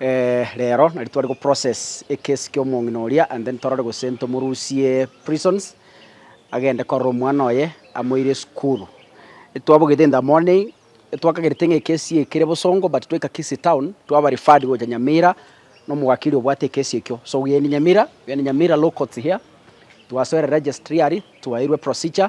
Reero nari tware goprocess ekesi ki'omong'ina oria and then torore gose ntomorusie prisons agende korora omwana oye amoire esukuru. Twabogete in the morning twakagerete ng'a ekesi eye ekere bosongo but twaika Kisii town twaba referred gocha Nyamira nomowakiri obwate ekesi ekio so we end Nyamira, we end Nyamira law courts here twasoera registry aria twaeirwe procedure.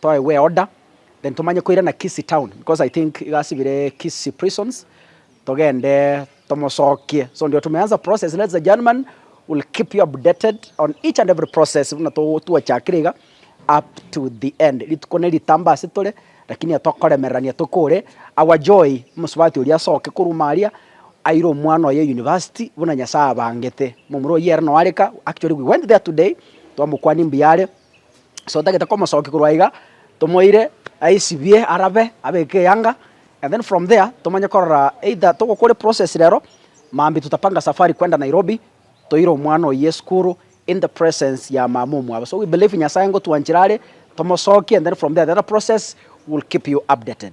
Toe we order then tomanye koirana Kisii town because I think iga asibire Kisii prisons togende tomosokie so ndio tumeanza process ladies and gentlemen will keep you updated on each and every process buna twachakire iga up to the end rituko neritamba ase tore lakini etokoremererania tokore our joy omosubati oria asoke korwa aria aire omwana oye university buna Nyasaye abangete momura oyio ere noareka actually we went there today twamokwania mbuyare. so tagete komosokia korwa iga, tomoire aisibie arabe abeke eyanga and then from there tomanye korora either togokora eprocess rero mambia tutapanga safari kwenda Nairobi toire omwana oyio esukuru in the presence ya mama omwabo, so we believe Nyasaye ngotwanchera are tomosokie and then from there the other process we will keep you updated.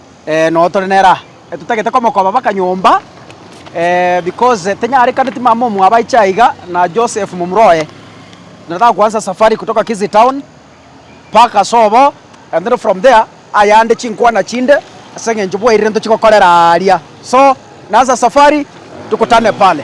Noo tore neraha, totagete komokoba baka nyomba, because tenyarekaneti mama omwabo aiche aiga na Joseph momura oye. Nataka kuansa safari kutoka Kisii town baka sobo, and then from there ayande chinkwana chinde ase eng'encho bwairire ntochi gokorera aaria. So, naansa safari, tukutane pale.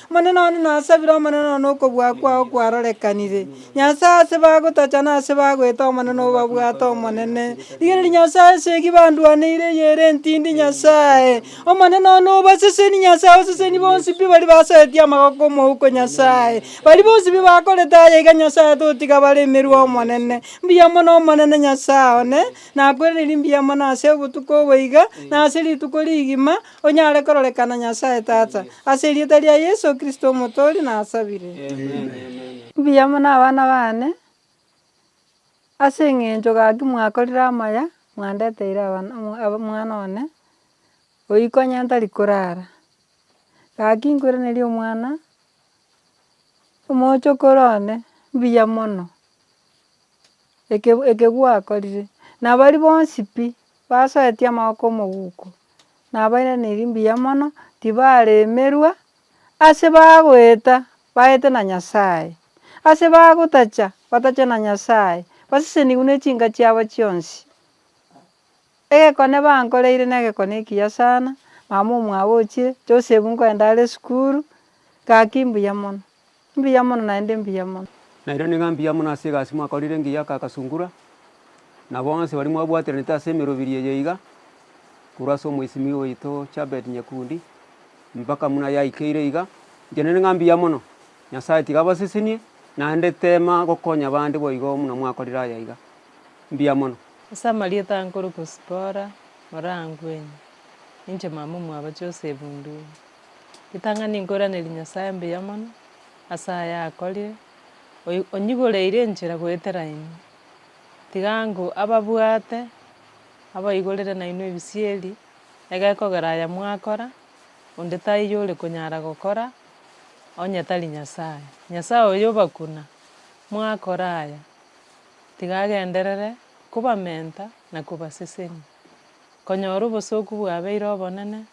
Omonene one nasabire, Omonene one okobua kwao kwarorekanire. Nyasae ase bagotacha na ase bagoeta Omonene obabwate Omonene. Rigereria Nyasae esegi bandwaneire eyere entindi Nyasae. Omonene one obaseseni Nyasae oseseni bonsi pi baria basaetie amagoko omouko Nyasae. Baria bonsi pi bakorete aya iga Nyasae totiga bare emerwe Omonene. Mbuya mono Omonene Nyasae one, nakwereniri mbuya mono ase obotuko obo iga, na ase rituko rigima, Onyare kororekana Nyasae Tata, ase erieta ria Yeso Kristo Omotoori nasabire. Mbuya mono abana baane, ase eng'encho gaki mwakorire amaya, mwandeteire abana omwana one, oyio konya ntari korara. Gaki nkweraneria omwana, omochokoro one, mbuya mono, eke ekegwakorire, na baria bonsi pi. Basoetie amaboko omoguko, na abairaneiri mbuya mono, tibaremerwa, ase bagoeta baete na Nyasae, ase bagotacha batachwe na Nyasae, basesenigwe ne chinka chiabo chionsi. Egekone bankoreire negekone ekiya sana, mama omwabo ochire, Joseph nkoenda are esukuru, gaki mbuya mono. Mbuya mono naende mbuya mono. Naende niga mbuya mono ase egasi mwakorire engiya aka Kasungura, na bonsi baria mwabwatiranete ase emerobiri eye iga, korwa ase omoisimigwa oito Chabed Nyekundi, mpaka buna yaikeire iga. Inche naende niga mbuya mono. Nyasaye tiga abasesenie, naende tema gokonya bande boigo buna mwakorire aya iga. Mbuya mono. Ase amarieta ankore Kusipora, Orangwenye, ninche mama omwabo Joseph Ndung'u. Ritang'ani nkoiranerie Nyasae mbuya mono, ase aya akorire, oyi- onyigoreire enchera goetera ime. Tiga ango ababwate, abaigorere nainwe ebisieri, egekogera aya mwakora, onde taiyo ore konyara gokora, onye tari Nyasae. Nyasae oyo obakuna, mwakora aya, tiga agenderere kobamenta na kobasesenia, konyora obosoku bwabeire obonene,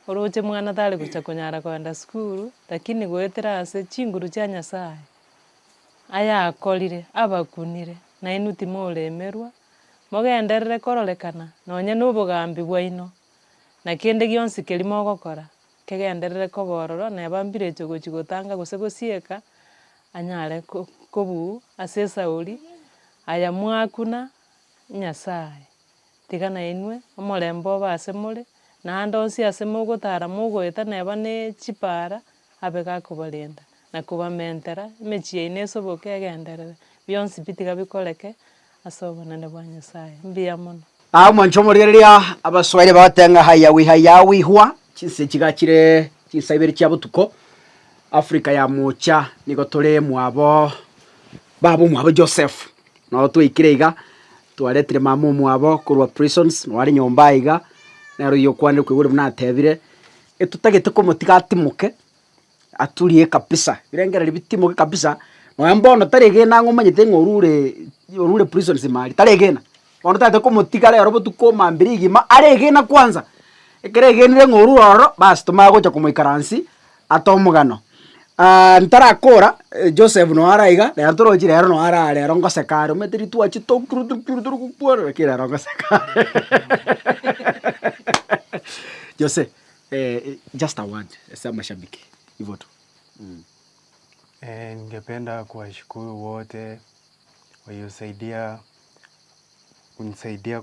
Oroche mwana tari gocha konyara kogenda sukuru, lakini goetera ase chinguru chia Nyasaye, ayakorire, abakunire, nainwe timoremerwa, mogenderere kororekana nonye nobogambi bwaino, na kende gionsi keria mogokora, kegenderere koba ororo, na ebambiretie gochia gotanga gose gosieka, anyare ko- kobuu ase esauri, aya mwakuna Nyasaye. Tiga nainwe, omorembe obe ase more, na aande onsi ase mogotara mogoeta neba ne chipaara, abe gakobarenda, na kobamentera, emechie yaino esoboke egenderere, bionsi pi tiga bikoreke ase obonene bwa Nyasae. Mbuya mono. Aa omwancho omoria riria abaswaire bagotenga ng'a haya wi haya wi hwa chinse chiga chire chinsa ibere chia botuko Africa ya mocha nigo tore mwabo babo mwabo Joseph Nabo twaikire iga, twaretire mama omwabo korwa prisons, nabo are nyomba aye iga, nere oyio okwanire kwegure buna atebire, etotagete komotiga atimoke, aturie kabisa, ebirengererio bitimoke kabisa, nonya mbono taregena ang'e omanyete ng'a orure orure prisons ime aria, taregena, bono tagete komotiga rero botuko mambia rigima aregena kwanza, ekero agenire ng'a orure ororo, bas tomanye gocha komoikaransi. Ata omogano, aah ntarakora Joseph noo are iga, rero torochi rero noo are aa rero ngoseka are, omanyete rituko achiete tokuru tokuru tokuru tokokwana lakini rero ngoseka Jose just a word ase amashabiki igo tu mmh. Ningependa kuwashukuru wote waliosaidia kunisaidia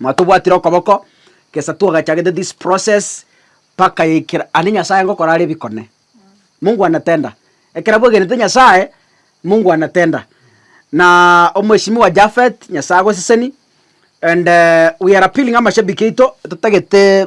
Mwatobwatire okoboko gesa twagachagete this process mpaka ekero ande Nyasaye ngokora are ebikone. Mungu anatenda. Ekero bwegenete Nyasaye, Mungu anatenda. Naa omweshimiwa Japhet, Nyasaye agoseseni, and we are appealing amashabiki aito, totagete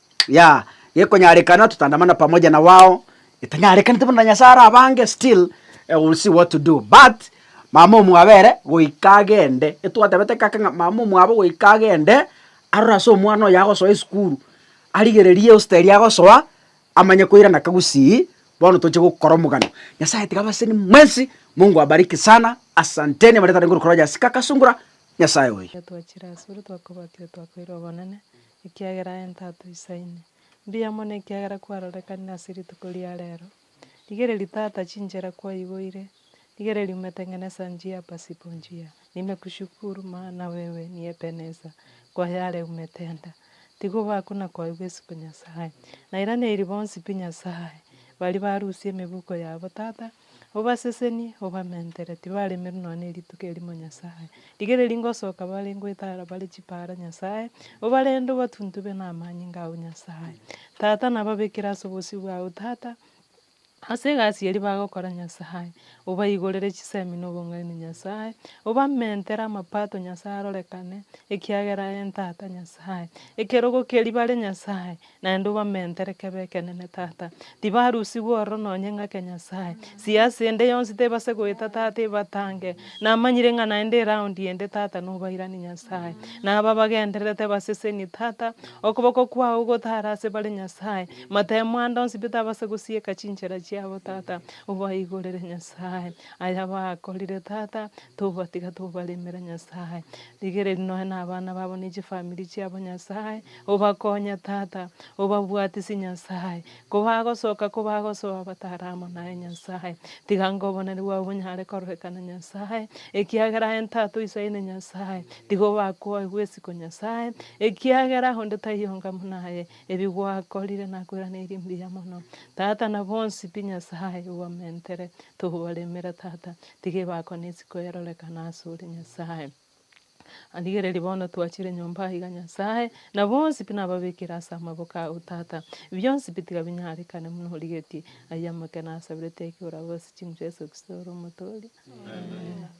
Yeah, gekonyarekana totandamana pamoja na wao, getanyarekanete bono na Nyasae are abange still eh, we'll see what to do but mama omwabo ere goika agende, etwatebete kake ng'a mama omwabo goika agende arore ase omwana oyo agosoa esukuru, arigererie eosta eria agosoa amanye koirana kagusii bono toche gokora omogano. Nyasae tiga abaseni mwensi, Mungu awabariki sana, asanteni abaria tarenge korwa Rogers Kakasungura, Nyasae oye. Ekero twachire asore twakobatiwa twakoirwa obonene. ekiagera aye ntato isaine. Mbuya mono ekiagera kwarorekanire ase rituko ria rero. Rigereria tata chinchera kwaiboire, rigereria umetengenesa njia pasipo njia. Nimekushukuru maana wewe ni Ebenesa, kwa yare umetenda. Tigobaku na koigwa isiko Nyasae. Nairaneirie bonsi pi Nyasae, baria barusia emebuko yabo tata, Obasesenie, obamentere, tibaremerwe nonya nerituko erimo Nyasae. Rigereria ngosoka bare ngoetara bare chipaara Nyasae, obarende obatuntube namanyinga ao Nyasae. Tata nababekere ase obosio bwao Tata, ase egasi eria bagokora Nyasae, obaigorere chisemi na obong'aini Nyasae, obamentere amapato Nyasae arorekane, ekiagera en Tata Nyasae, ekerogo keria bare Nyasae, Naende obamentere kebe ekenene, Tata. Tibarusigwe ororo nonye ng'ake, Nyasae. Siasa ende yonsi tebase goeta, Tata, ebatange. Namanyire ng'a naende eround ende, Tata, nobairani, Nyasae. Na aba bagendererete baseseni, Tata, okoboko kwao gotare ase bare, Nyasae. Matemo ande onsi pi tabase gosieka chinchera chiabo, Tata. Obaigorere, Nyasae, aya bakorire, Tata, tobatiga tobaremere, Nyasae. Rigereria nonya na abana babo ne chifamiri chiabo, Nyasae. Obakonye, Tata, obabwatisi, Nyasae, kobagosoka kobagosoa batare amo naye, Nyasae. Tiga ngoboneri bwao bonyare kororekana, Nyasae, ekiagera aye ntato iso aine, Nyasae. Tiga obakwoe bw'esiko, Nyasae, ekiagera onde taiyo onga buna aye. Ebi gwakorire nakweraneiri mbuya mono, Tata, na bonsi pi, Nyasae, obamentere. Tobaremera, Tata, tiga ebakone isiko erorekana asore, Nyasae. Rigereria bono twachire nyomba aiga Nyasae, na bonsi pi nababekire ase amaboko ao, Tata. Bionsi pi tiga binyarekane buna origetie. Aye amakene asaborete ekiora gose chinsa Yeso Kristo ore Omotooria. Amen.